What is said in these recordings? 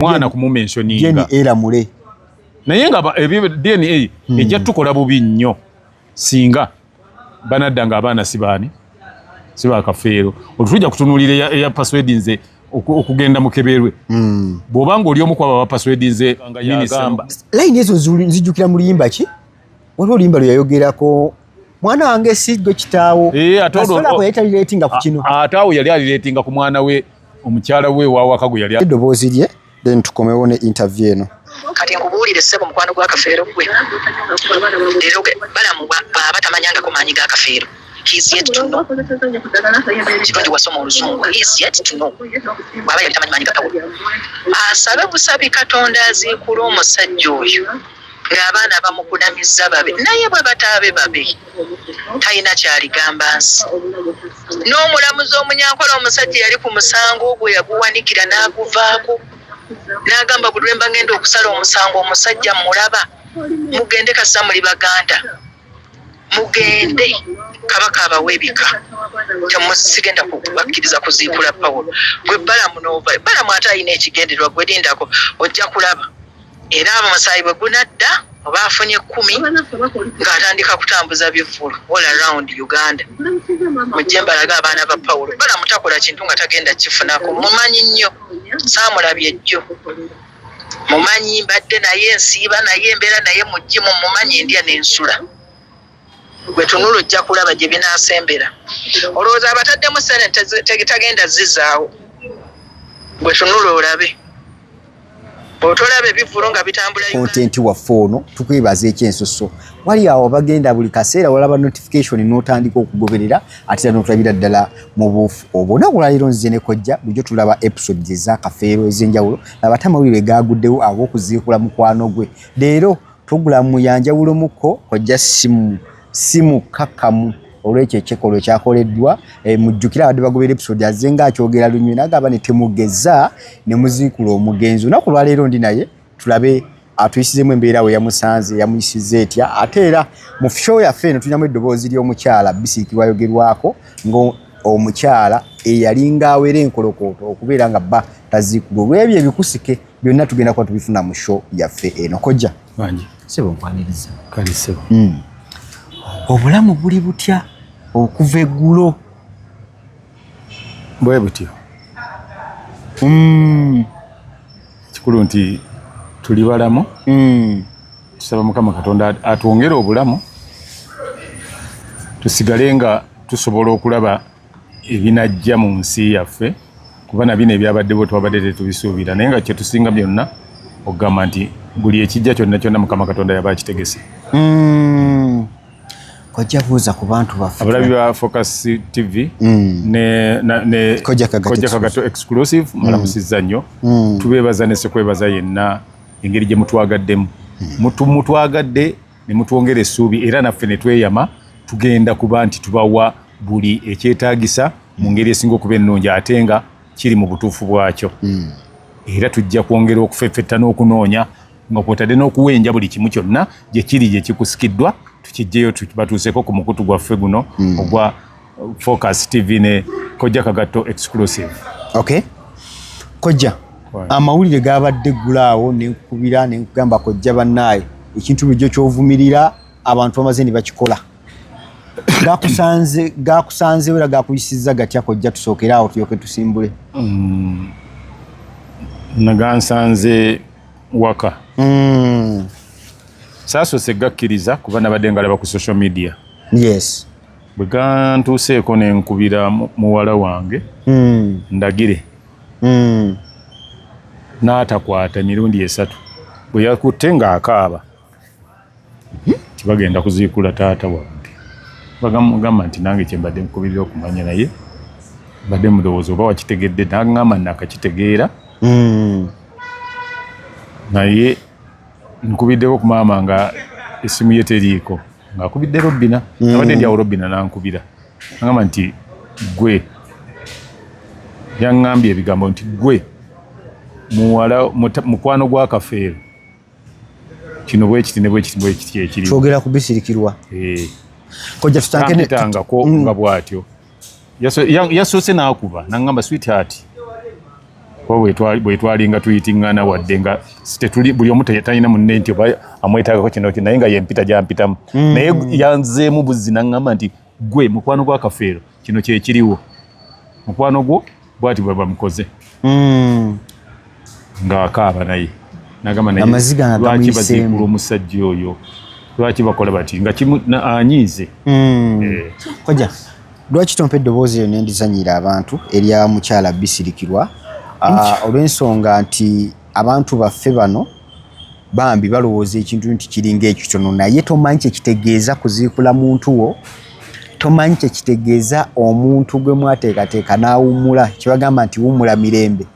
mwana kumumensioninga eramule naye nga ebyo dna hmm. ejja tukola bubi nnyo singa banadda nga abaana sibaani sibakafeero olutujja kutunulira eya paswedi nze okugenda mukeberwe hmm. bwoba nga oli omu kwaba bapaswedi nze layini ezo nzijukira mu luyimba ki waliwo oluyimba lweyayogerako mwana wange si gwe kitaawo eh, asobola kweyetaliretinga ku kino ate awo yali aliretinga ku mwana we omukyala we wawaka gwe yali eddoboozi lye then tukomewo ne interview eno kati nkubuulire ssebo mukwano gwa kafeero gwe leero balamu bwaba tamanyangako maanyi ga kafeero kirungi wasoma oluzungu bwaba yali tamanyi maanyi gatawo asabe busabi katonda aziikula omusajja oyo ng'abaana bamukunamizza babe naye bwe bataabe babe talina kyaligamba nsi n'omulamuzi omunyankola omusajja yali ku musango ogwo yaguwanikira n'aguvaako n'agamba buli lwe mba ngenda okusala omusango omusajja mulaba mugende kasita muli baganda mugende kabaka abawa ebika sigenda kubakkiriza kuziikula pawulo gwe balamu nova balamu ate alina ekigendererwa gwe lindako ojja kulaba era abamusaayi bwe gunadda oba afunye kumi ng'atandika kutambuza bivvulu all around uganda mujje mbalaga abaana ba pawulo balamu takola kintu nga tagenda kifunako mumanyi nnyo saamulabye jjo mumanyi mbadde naye nsiiba naye embeera naye mugimu mumanyi ndya nensula gwetunula ojja kulaba gye binasembera olowooza abataddemu sene tagenda zizaawo gwetunula olabe otolaba ebivulu nga bitambula kontenti waffe ono tukwebaza ekyensusso wali awo bagenda buli kaseera walaba notification n'otandika okugoberera ate era notulabira ddala mu buufu obwo naku lwaleero nzize ne kojja bulijjo tulaba episode ezakafeero ez'enjawulo abatamawulire gaaguddewo ab'okuziikula mukwano gwe leero pulogulaamu yanjawulomuko kojja simu simu kakamu olwekyo ekyekolwa ekyakoleddwa eh, mujjukire abadde bagobera episode aze nga akyogera lunywe nagamba ne temugeza ne muziikula omugenzi onaku lwaleero ndi naye tulabe atuyisizemu embeera we yamusanze yamuyisiza etya ate era mu fusho yaffe eno tulinamu eddoboozi ly'omukyala bisiiki wayogerwako ng'omukyala eyalinga awera enkolokooto okubeera nga bba taziikudwa olw'ebyo ebikusike byonna tugenda kuba tubifuna mu sho yaffe eno kojja sebo nkwaniriza kale sebo hmm. obulamu buli butya okuva eggulo bwe butyo mm. ekikulu mm. nti tuli balamu mm. tusaba mukama katonda atwongere obulamu tusigale nga tusobola okulaba ebinajja mu nsi yaffe kuba nabino ebyabaddewo twabadde tetubisuubira naye nga kyetusinga byonna okugamba nti buli ekijja kyonna kyonna mukama katonda yaba akitegese mm. kojja buuza ku bantu baffe abalabi ba focus tv mm. ne, na, ne kojja kagato exclusive mm. malamusizza nnyo mm. tubeebaza ne sekwebaza yenna engeri gye mutwagaddemu mm. mutwagadde ne mutwongera essuubi era naffe ne tweyama tugenda kuba nti tubawa buli ekyetaagisa mu ngeri esinga okuba ennungi ate nga kiri mu butuufu bwakyo mm. era tujja kwongera okufeffetta n'okunoonya nga kwotadde n'okuwenja buli kimu kyonna gye kiri gye kikusikiddwa tukijjeyo batuuseeko ku mukutu gwaffe guno hmm. ogwa Focus TV ne Kojja Kagatto exclusive. Okay. Kojja. Amawulire gaabadde gulaawo ne nkubira ne nkugamba kojja bannaaye ekintu bulijjo ky'ovumirira abantu bamaze ne bakikola. Gakusanze gakusanze era gakuyisizza gatya kojja tusookere awo tuyoke tusimbule. Mm. Nagansanze waka mm. saasose gakkiriza kuba nabadde ngalaba ku social media yes bwe gantuuseeko ne nkubira muwala wange mm. ndagire mm. n'atakwata emirundi esatu bwe yakutte ng'akaaba tibagenda kuziikula taata wange bagamugamba nti nange kyembadde nkubirira okumanya naye mbadde mulowooza oba wakitegedde nagamba nakakitegeera hmm. naye nkubiddeko ku maama nga esimu ye teriiko ngaakubidde robbina hmm. abadde ndyawo robbina nankubira agamba nti gwe yaŋŋambye ebigambo nti gwe muwala mukwano gwa kafeero kino bwekiti ne bwekiti bwekiti ekiri twogera ku bisirikirwa eh. kojja tutange ne tanga ko mm. nga bwatyo yasoose n'akuba nangamba sweetheart bwetwalinga tuyitingana wadde nga tetuli buli omu talina munne nti oba amwetagako kino naye nga yempita gyampitamu mm. naye yanzeemu buzzi nangamba nti Gwe mukwano gwa Kafeero kino kye kiriwo. Mukwano gwo bwati bwe bamukoze. Mm. Nga akaaba naye. Nagamba naye. Amaziga na lwaki bazikula omusajja oyo. Lwaki bakola bati nga kimu na anyize. Mm. Eh. Koja. Lwaki tompe eddoboozi lyo nendizanyiira abantu erya mukyala bisirikirwa ah, olw'ensonga nti abantu baffe bano bambi balowooza ekintu nti kiringa ekitono naye tomanyi kyekitegeeza kuziikula muntu wo tomanyi kyekitegeeza omuntu gwe mwateekateeka n'awummula kyebagamba nti wummula mirembe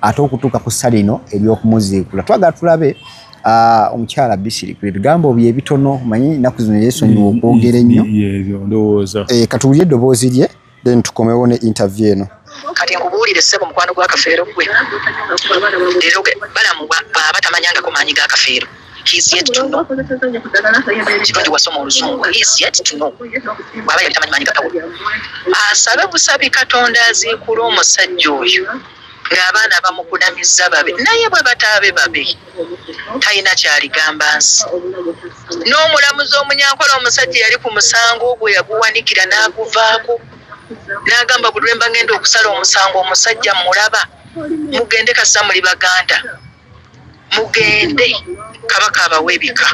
ate okutuuka ku ssa lino ery'okumuziikula twagala tulabe ah, omukyala bisiriku ebigambo bye ebitono manyi ennaku zino yeesonyiwa okwogera ennyo eh, katuwulire eddoboozi lye then tukomewo ne interview eno kati nkubuulire ssebo mukwano gwa kafeero gwe leero balamu bwaba tamanyangako maanyi ga kafeero kirungi wasoma oluzungu bwaba yali tamanyi maanyi gatawo asabe busabi katonda aziikula omusajja oyo ng'abaana bamukunamizza babe naye bwe bataabe babe talina kyaligamba nsi n'omulamuzi omunyankola omusajja yali ku musango ogwo yaguwanikira n'aguvaako n'agamba buli lwemba ngenda okusala omusango omusajja mulaba mugende kasa muli baganda mugende kabaka abawa ebika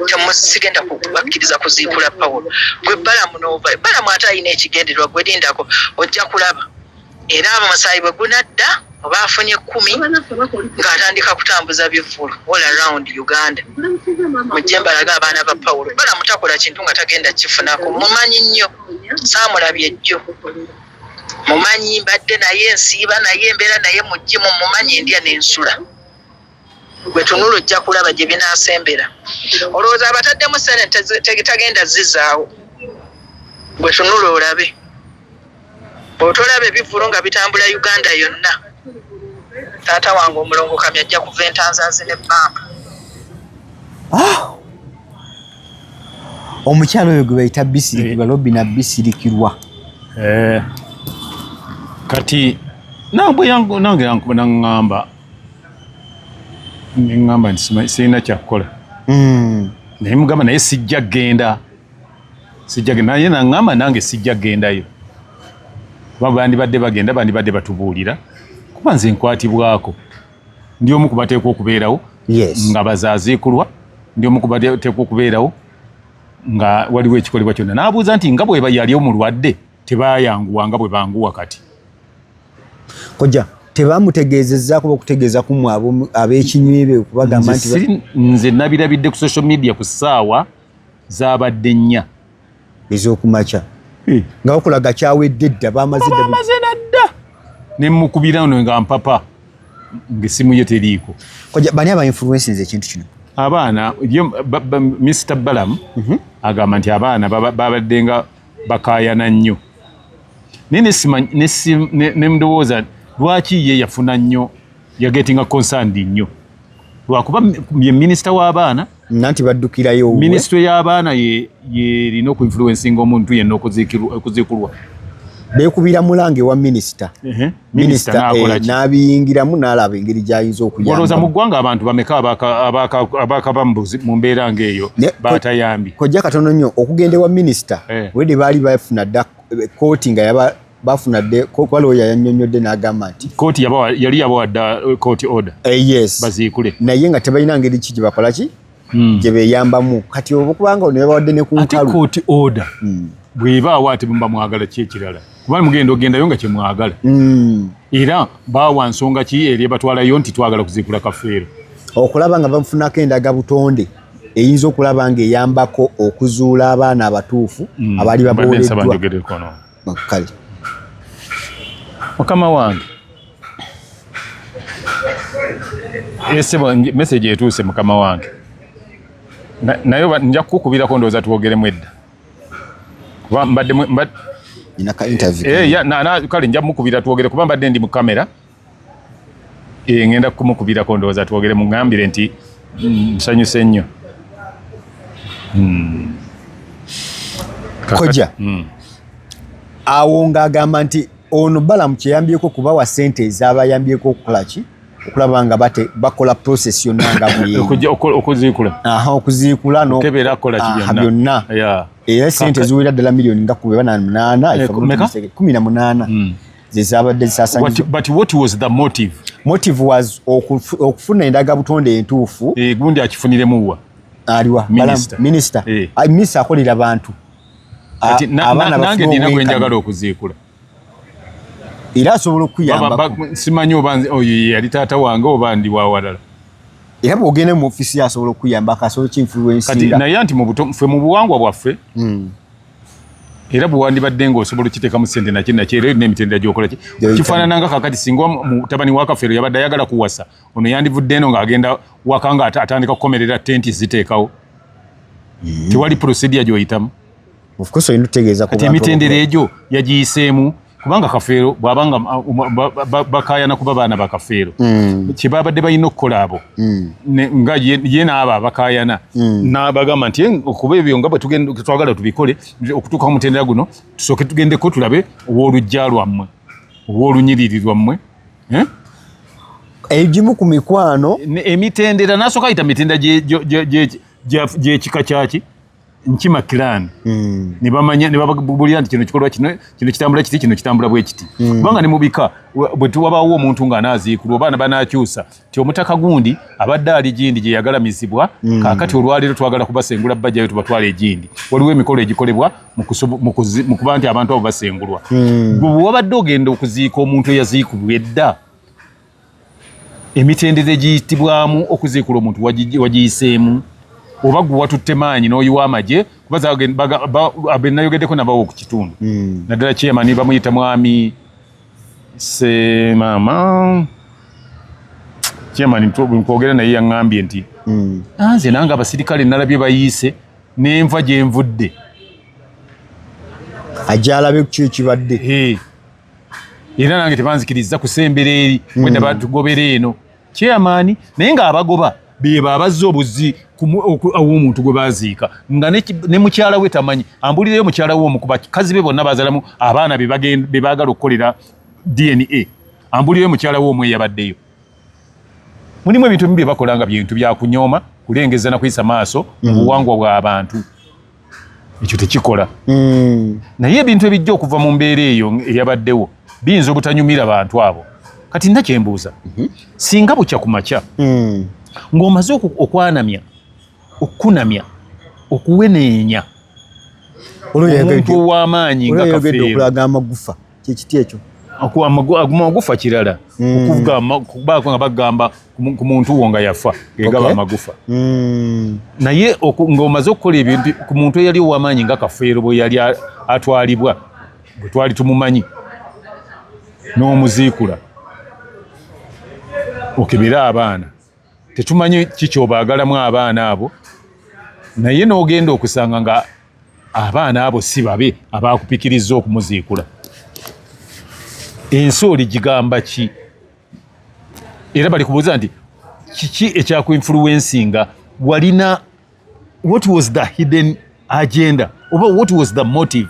temusigenda kubakkiriza kuziikula pawulo gwe balamu nova balamu ate alina ekigendererwa gwe lindako ojja kulaba era abo musaayi bwe gunadda oba afunye kumi ng'atandika kutambuza bivvulu all around uganda mujje mbalaga abaana ba pawulo bala mutakola kintu nga tagenda kifunako mumanyi nnyo saamulabye jjo mumanyi mbadde naye nsiiba naye embeera naye mujje mumumanyi ndya n'ensula gwetunula ojja kulaba gye binaasembera olowooza abataddemu senate tagenda zizaawo gwetunula olabe otolaba ebivulu nga bitambula uganda yonna taata wange omulongo kami ajja kuva entanzazi ne bamba ah! omukyalo oyo gwe bayita bisirikirwa eh. lobi na bisirikirwa eh. kati nabwe nange yankuba naŋŋamba neŋŋamba nti sirina kyakukola hmm. naye mugamba naye sijja kugenda sijja genda naye naŋŋamba nange sijja kugendayo kuba bandibadde bagenda bandibadde batubuulira kuba nze nkwatibwako ndi omu ku bateekwa okubeerawo nga bazaaziikulwa ndi omu ku bateekwa okubeerawo nga waliwo ekikolebwa kyonna n'abuuza nti nga bweba yali omulwadde tebayanguwa nga bwe banguwa kati kojja tebamutegeezezza kuba okutegeeza ku mwe ab'ekinywi be okubagamba nti nze nabirabidde ku social media ku ssaawa zaabadde nnya ez'okumakya eh. nga bakulaga kyawedde dda bamaze nadda ne mukubira no nga mpapa ng'essimu ye teriiko kojja bani aba influensinze ekintu kino abaana Mr Balamu mhm. agamba nti abaana babaddenga bakaayana nnyo naye ne mudowooza lwaki ye yafuna nnyo yagetinga concerned nnyo lwakuba ye minisita w'abaana nanti baddukirayo minisitule y'abaana yerina okuinfluensinga omuntu yenna okuziikulwa beekubira mulanga ewa minisita minisita eh, n'abiyingiramu n'alaba engeri gy'ayinza okuyambaaolowooza mu ggwanga abantu bameka abakaba mu mbeera ng'eyo batayambi kojja katono nnyo okugenda ewa minisita eh. olwedde baali bafuna dda eh, kooti nga yaba bafuna dde kuba looya yannyonnyodde n'agamba nti kooti yali yabawa dda kooti order yes baziikule naye nga tebalina ngeri ki gye bakola ki hmm. gye beyambamu kati obukubanga ono yabawadde ne ku nkalu kooti oda hmm. bwebaawo ate muba mwagala ki ekirala kubanga mugenda ogendayo nga kyemwagala hmm. era baawa nsonga ki eri ebatwalayo nti twagala kuziikula kafeero okulaba nga bamufunako endaga butonde eyinza okulaba ng'eyambako okuzuula abaana abatuufu abaali baboleddwa Kale mukama wange esebo eh, message etuuse mukama wange nayo nja kukukubirako ndowooza twogeremu edda kuba mbadde eh, kale nja mukubira twogere kuba mbadde ndi mu kamera Eh, ngenda kumukubirako ndowooza twogere mugambire nti mm, nsanyuse nnyo hmm. koja hmm. awo ng'agamba nti ono balamu kyeyambyeko kubawa sente ezabayambyeko okukolaki okulaba nga bate bakola process yonna nga bweyokuziikula okuziikula byonna era sente ziwera ddala miliyoni nga kubeba na munaana kumi na munaana hmm. zezabadde zisasanyizwa but what was the motive motive was okufuna endaga butonde entuufu eh gundi akifunire muwa aliwa minister minister eh. i miss akolera bantu ati abana nange nina gwenjagala okuziikula era asobola okuyamba simanyi oba oyo yali taata wange oba ndi wawalala era bwogenda mu ofisi asobola okuyamba kasobola kinfluensinga naye anti mu buto ffe mu buwangwa bwaffe mm. era bwewandibadde nga osobola okiteekamu sente naki naki era olina emitendera gyokola ki kifaanana nga kakati singa mutabani wa kafeero yabadde ayagala kuwasa ono yandivudde eno ng'agenda waka nga atandika kukomerera tenti ziteekawo mm. tewali procedure gyoyitamu emitendera egyo yagiyiseemu kubanga kafeero bwabanga uh, bakayana kuba baana bakafeero mm. kyebabadde balina okukola abo mm. nga ye naabo abakayana mm. nabagamba nti eh, okuba ebyo nga bwetwagala tubikole okutuuka ku mutendera guno tusooke tugendeko tulabe ow'olujja lwammwe ow'olunyiriri lwammwe eh? egimu ku mikwano emitendera nasooka ayita mitendera gyekika kyaki nkima clan mm. ne bamanya ne babulira nti kino kikolwa kino kino kitambula kiti kino kitambula bwe kiti mm. kubanga ne mubika bwe tuwabawo omuntu nga anaaziikulwa obaana banaakyusa ti omutaka gundi abadde ali gindi gye yagalamizibwa mm. kaakati olwaleero twagala kubasengula bajjayo tubatwala egindi waliwo emikolo egikolebwa mu kuba nti abantu abo basengulwa mm. bwe wabadde ogenda okuziika omuntu eyaziikubwa edda emitendera egiyitibwamu okuziikula omuntu wagiyiseemu oba gwe watutte maanyi n'oyiwa amagye kuba benayogeddeko nabawo okukitundu hmm. naddala chairman bamuyita mwami semama chairman nkwogera naye yaŋŋambye nti hmm. ah, nze nange abasirikale nalabye bayiise nenva gyenvudde agyalabe kukyo ekibadde era nange tebanzikiriza kusembera eri hmm. wenda batugobera eno kyeyamaani naye ng'abagoba beba abazza obuzi aw'omuntu gwe baziika nga ne mukyala we tamanyi ambulireyo mukyala we omu ku bakazi be bonna bazalamu abaana be baagala okukolera dna ambulireyo mukyala we omu eyabaddeyo mulimu ebintu bimu bye bakola nga bintu byakunyooma kulengeza na kuyisa maaso mu hmm. buwangwa bw'abantu ekyo tekikola mm. naye ebintu ebijja okuva mu mbeera eyo eyabaddewo biyinza obutanyumira bantu abo kati nna kyembuuza mm -hmm. singa bukya ku makya mm. ng'omaze okwanamya okukunamya okuweneenya omuntu ow'amaanyi nga kafeero kyekiti ekyo amagufa kirala hmm. okubaako nga bagamba ku muntu wo nga yafa gegaba amagufa hmm. naye ng'omaze okukola ebintu ku muntu eyali owamaanyi nga kafeero bwe yali atwalibwa bwe twali tumumanyi n'omuziikula okebere abaana tetumanyi kikyobaagalamu abaana abo naye n'ogenda okusanga nga abaana abo si babe abaakupikirizza okumuziikula ensi oligigamba ki era bali kubuuza nti kiki ekyakuinfuluwensinga walina what was the hidden agenda oba what was the motive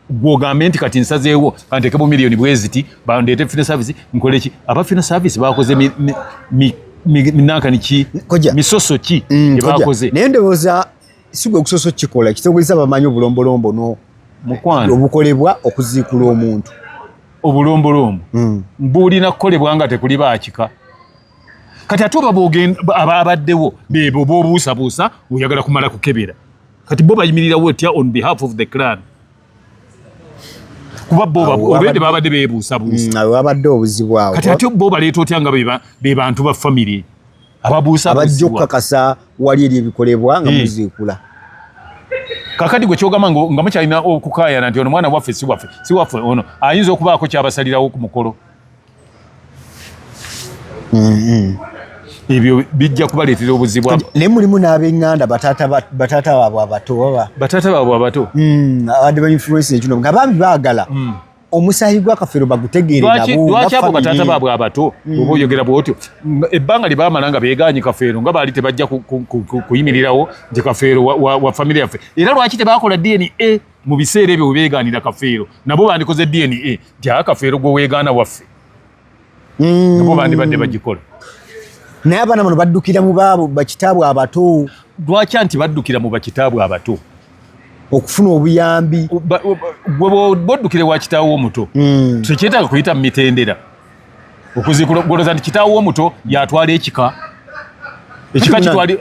gwogambe nti kati nsazeewo kantekemu miliyoni bweziti bandeete fina service nkoleki aba fina service bakoze mi, mi, mi, minanka niki misoso ki mm, ebakoze naye ndowooza sigwe okusoso kikola kitogeza bamanyi obulombolombo no mukwano obukolebwa okuziikula omuntu obulombolombo mm. bulina kukolebwa nga tekuli baakika kati ate oba abaddewo bebo bobuusabuusa oyagala kumala kukebera kati bo bayimirirawo otya on behalf of the clan kuba boolwende babadde bebuusabuusawabadde mm, obuzibu awo kati ate bo baleeta otya nga be bantu ba famiry ababuusabajja okukakasa wali eri ebikolebwa nga eh. muziikula kakati gwe kyogamba nga mukyalina okukayana nti ono mwana waffe siwaffe siwaffe ono ayinza okubaako kyabasalirawo ku mukolo ebyo bijja kubaleetera obuzibu naye mulimu n'abenganda batata baabwe abato baba batata baabwe abato hmm, abadde ba influence ekino nga bambi baagala hmm. omusaayi gwakafero bagutegeerelwaki abo batata baabwe abato hmm. oba oyogera bwotyo ebbanga lye baamala nga beegaanyi kafeero nga baali tebajja kuyimirirawo nti kafeero wa famire yaffe era lwaki tebaakola dna mu biseera ebyo webeegaanira kafeero nabo bandikoze dna nti aa kafeero gwe weegaana waffe mm. nabo bandibadde bagikola naye abaana bano baddukira mu baabo bakitaabwe abato lwakya nti baddukira mu bakitaabwe abato okufuna obuyambi bwoddukire wa kitaawo omuto mm. tekyetaaga kuyita mu mitendera okuzikugoloza nti kitaawo omuto yatwala ekika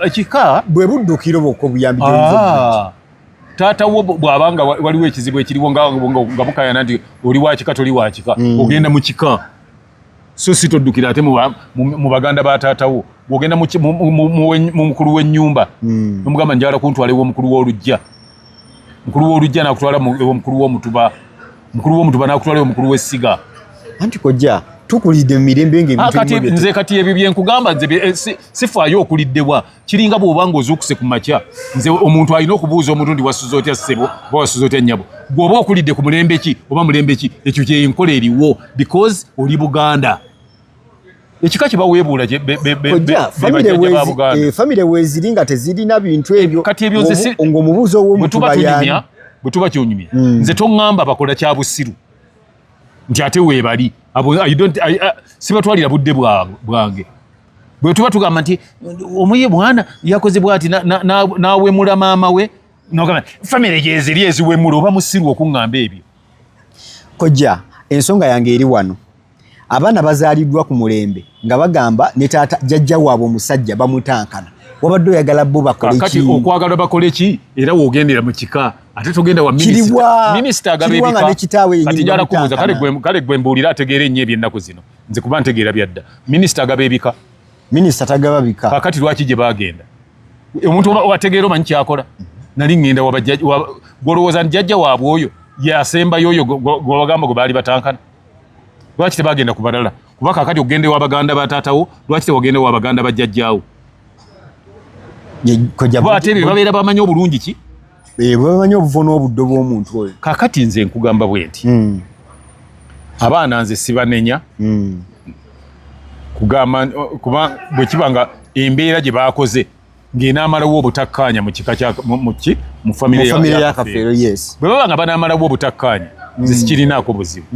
ekika bwe buddukiro bwokka obuyambi ah. taata wo bw'aba nga waliwo ekizibu ekiriwo nga bukayana nti oli wakika toli wakika mm. ogenda mu kika so si toddukira ate mu baganda ba taata wo bw'ogenda mu mukulu w'ennyumba mm. nomugamba njagala kuntwala ew'omukulu w'olujja mukulu w'olujja nakutwala ew'omukulu w'omutuba mukulu w'omutuba nakutwala ew'omukulu w'essiga anti kojja tukulidde mu mirembe nga ah, nze kati ebyo byenkugamba nze eh, sifaayo okuliddebwa kiringa bwoba nga ozuukuse ku makya nze omuntu alina okubuuza omulundi wasuza otya ssebo oba wasuza otya nnyabo gweoba okulidde ku mulembe ki oba mulembe ki ekyo kyenkola eriwo because oli buganda ekika kyebaweebuula famire weeziri eh, nga tezirina bintu ebyo kati ebyo ngaomubuuzi owomutubayani bwe tuba kyonyumya hmm. nze toŋŋamba bakola kya busiru nti ate weebali sibatwalira budde bwange bwe tuba tugamba nti omuye mwana yakoze bwati nawemula na, na maama we nogamba famire gyeziri eziwemula oba musiru okuŋŋamba ebyo kojja ensonga yange eri wano abaana bazaaliddwa ku mulembe nga bagamba ne taata jajja waabwe omusajja bamutankana wabadde oyagala bo bakolekati okwagala bakole ki era wogendera mu kika ate togenda wa minisita agaba ebika kati njala kubuuza kale gwe mbuulira ategeera ennyo ebyennaku zino nze kuba ntegeera byadda minisita agaba ebika minisita tagaba bika kakati lwaki gye bagenda omuntu ategeera omanyi kyakola nali ngenda gwolowooza nti jajja waabwe oyo yasembayo oyo gwebagamba gwe baali batankana lwaki tebagenda ku balala kuba kakati okugenda ewa baganda ba taatawo lwaki tewagenda ewa baganda ba jajjaawo ate bye babeera bamanyi obulungi ki Eh, bwebamanyi obuvo n'obuddo bw'omuntu oyo kakati nze nkugamba bwe nti hmm. abaana nze sibanenya hmm. kugamba kuba bwe kiba nga embeera gye baakoze ng'enaamalawo obutakkaanya mu kika kyamuki mu famire ya kafeero yes bwe baba nga banaamalawo obutakkaanya nze hmm. sikirinaako buzibu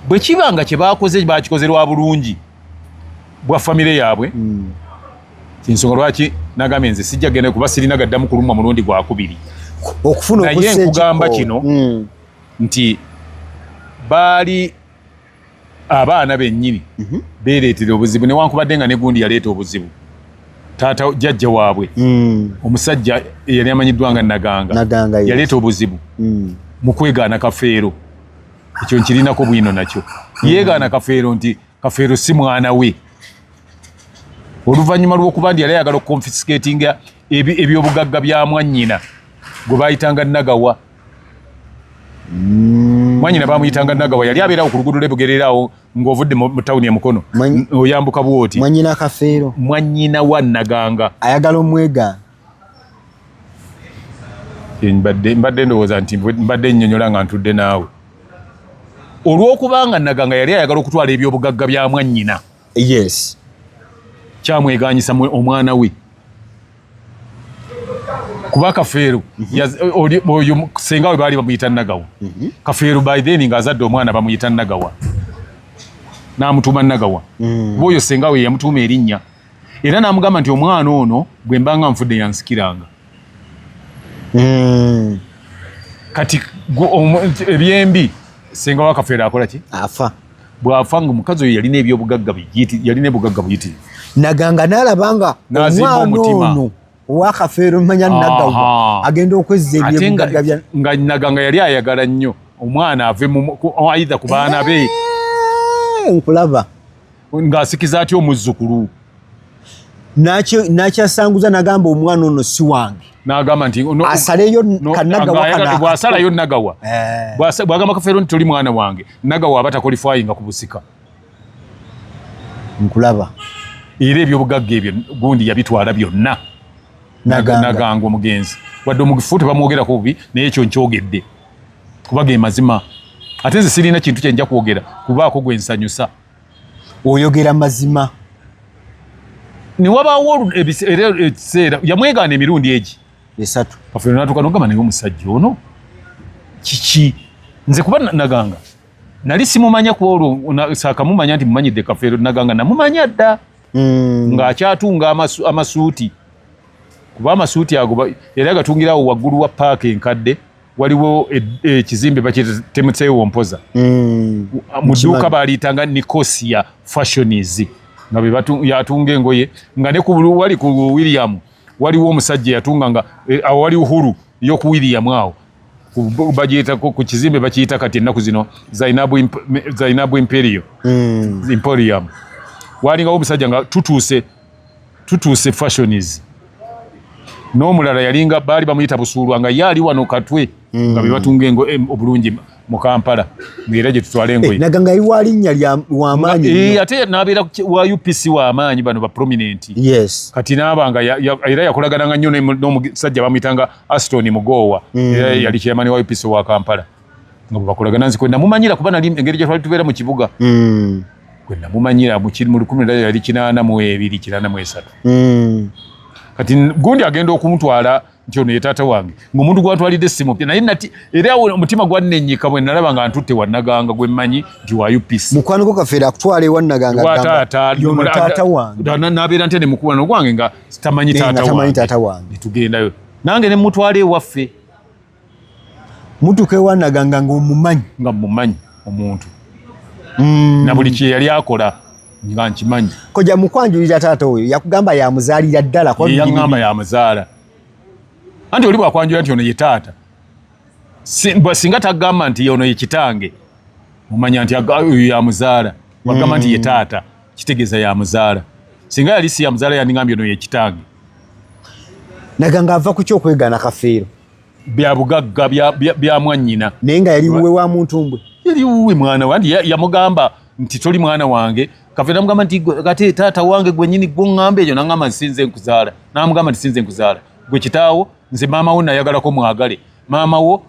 bwe kiba nga kye baakoze baakikoze lwa bulungi bwa famire yaabwe mm. kyensonga lwaki nagambye nze sijja genda kuba sirina gaddamu kulumwa mulundi gwakubiri naye nkugamba kino mm. nti baali abaana bennyini mm -hmm. beereetera obuzibu newankubadde nga negundi yaleeta obuzibu taata jajja waabwe mm. omusajja eyali amanyiddwa nga naganga yaleeta obuzibu mm. mu kwegaana kafeero ekyo nkirinako bwino nakyo yeegaana mm. kafeero nti kafeero si mwana we oluvannyuma lw'okuba ndi yali ayagala okukonfisikatinga ebyobugagga bya mwannyina gwe baayitanga nagawa mm. mwanyina bamuyitanga nagawa yali abeerawo ku luguudo lwebugereeraawo ng'ovudde mu tawuni e mukono oyambuka bwoti mwanyina kafeero mwanyina wa naganga ayagala omwegaana mbadde ndowooza nti mbadde nnyonyola nga ntudde naawe olw'okubanga naga nga yali ayagala okutwala ebyobugagga bya mwannyina yes kyamweganyisa omwana we kuba kafeero mhm. oyo senga we baali bamuyita nagawa mhm. kafeero by then nga azadde omwana bamuyita nagawa n'amutuuma nagawa mm. bwoyo senga we yamutuuma erinnya era n'amugamba nti omwana ono bwe mbanga nfudde yansikiranga hmm. kati ebyembi senga wakafeera akola ki afa bwafa nga omukazi oyo yalina ebyobugagga yalina ebugagga buyitirivu naganga nalabanga omwana ono wakafeero manya nagawa agenda okwezza ebyobugagga nga naganga yali ayagala nnyo omwana ave aidha ku baana be eh, nkulaba ng'asikiza atya omuzzukulu nakyasanguza nagamba omwana ono si wange nagamba nti asaleyo kanagawabwasalayo nagawa eh. bwagamba kafeero nti toli mwana wange nagawa aba takolifayinga ku busika nkulaba era ebyobugagga ebyo gundi yabitwala byonna naganga omugenzi wadde omufu tebamwogerako bubi naye ekyo nkyogedde kubaga emazima ate nze sirina kintu kyenja kwogera kubaako gwensanyusa oyogera mazima newabaawo era ekiseera yamwegaana emirundi egi esatu kafuna natuka nogamba naye omusajja ono kiki nze kuba naganga nali simumanya kuba olwo sakamumanya nti mumanyidde kafeero naganga namumanya dda mm. ng'akyatunga amasuuti kuba amasuuti ago era gatungirawo waggulu wa paaka enkadde waliwo ekizimbe bakitemutsewo mpoza mm. mu dduuka baaliyitanga nicosia fashions nga beyatunga engoye nga ne wali ku william waliwo omusajja yatunga nga e, awo wali uhuru yoku william awo bagiyitako ku kizimbe bakiyita kati ennaku zino zainabu imperio mm. imporium walingawo omusajja nga tutuuse tutuuse fashions n'omulala yalinga baali bamuyita busuulwa nga ye ali wano katwe mm. nga bebatunga engo eh, obulungi mu kampala ngaera gye tutwala engoye eh, nga iwa linnya wamaanyi eh, ate nabeera wa upc wamaanyi bano ba prominent yes kati naabanga era yakolagananga nnyo n'omusajja bamuyitanga aston mugoowa mm. era yali kyeyamani wa upc wa kampala nga bwebakolagana nze kwenamumanyira kuba nali engeri gyetwali tubeera mu kibuga mm. kwenamumanyira mukiri mu lukumi laa yali kinaana mu ebiri kinaana mu esatu mm. kati gundi agenda okumutwala nti ono ye taata wange ngaomuntu gwatwalidde simupya naye nati era omutima gwannenyika bwe nalaba nga ntutte wanaganga gwe mmanyi nti wa upc mukwaniko kafeera akutwala ewanaganganabeera ntya nemukuwana ogwange nga tamanyi taata wange netugendayo nange nemutwala ewaffe mutuka ewanaganga ngaomumanyi nga mumanyi omuntu mm. na buli kyeyali akola nga nkimanyi koja mukwanjulira taata oyo yakugamba yamuzaalira ddala yagamba yamuzaala anti oli bwakwanjulira nti ono ye taata singa tagamba nti ono ye kitange omanya nti oyo yamuzaala wagamba nti ye mm. taata kitegeeza yamuzaala singa yali si yamuzaala yandigambye ono ye kitange naga nga ava ku kyokwegaana kafeero bya bugagga bya mwannyina naye nga yali wuwe wa muntu mbwe yali wuwe mwana wandi yamugamba nti toli mwana wange kafeero namugamba nti kati taata wange gwenyini gwoŋŋamba ekyo naŋamba nti sinze nkuzaala namugamba nti sinze nkuzaala gwe kitaawo nze maama wo nayagalako mwagale maama wo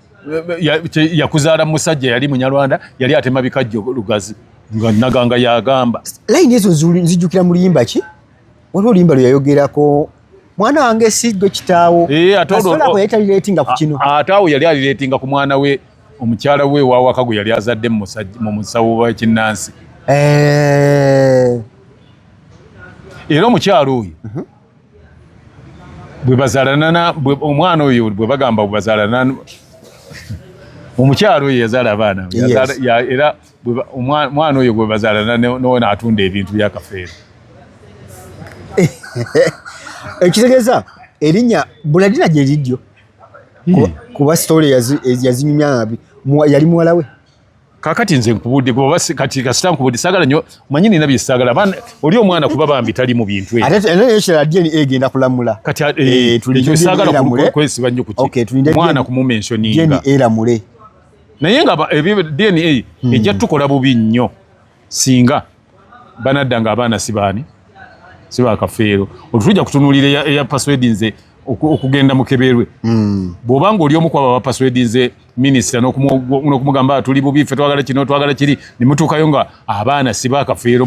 yakuzaala musajja yali munyarwanda yali atema bikajjo lugazi nga naganga yagamba layini ezo nzijukira muluyimba ki waliwo limba lwe yayogerako mwana wange si gwe kitaawo eh, asolako yali talireetinga ku kino ate awo yali alireetinga ku mwana we omukyala we wawaka gwe yali azadde mu musawo wa kinnansi eh. era omukyala oyo mhm. bwebazalana omwana oyo bwe bagamba bwebazalana omukyala oyo yazaala abaana era omwana oyo gwe bazaalana nowona atunda ebintu byakafeero ekitegeeza erinnya buladina gye liddyo hmm. kuba sitole yazinyumya nabi yali muwala we kakati nze nkubudde goba kati kasita nkubudde sagala nyo manyi nina bisagala abaana oli omwana kuba bambi tali mu bintu ebyo ate eno yeshira DNA egenda kulamula kati eh, eh, eh, tuli sagala kwesiba nyo kuti mwana ku mumensioninga DNA eramule naye nga ebyo DNA hmm. ejja tukola bubi nnyo singa banadda nga abaana sibaani sibakafeero olutujja kutunulira eya password nze okugenda mukeberwe hmm. bwoba nga oli omu kwabo abapaswedinze minisita nokumugamba tuli bubi fe twagala kino twagala kiri nemutuukayo nga abaana sibakafeero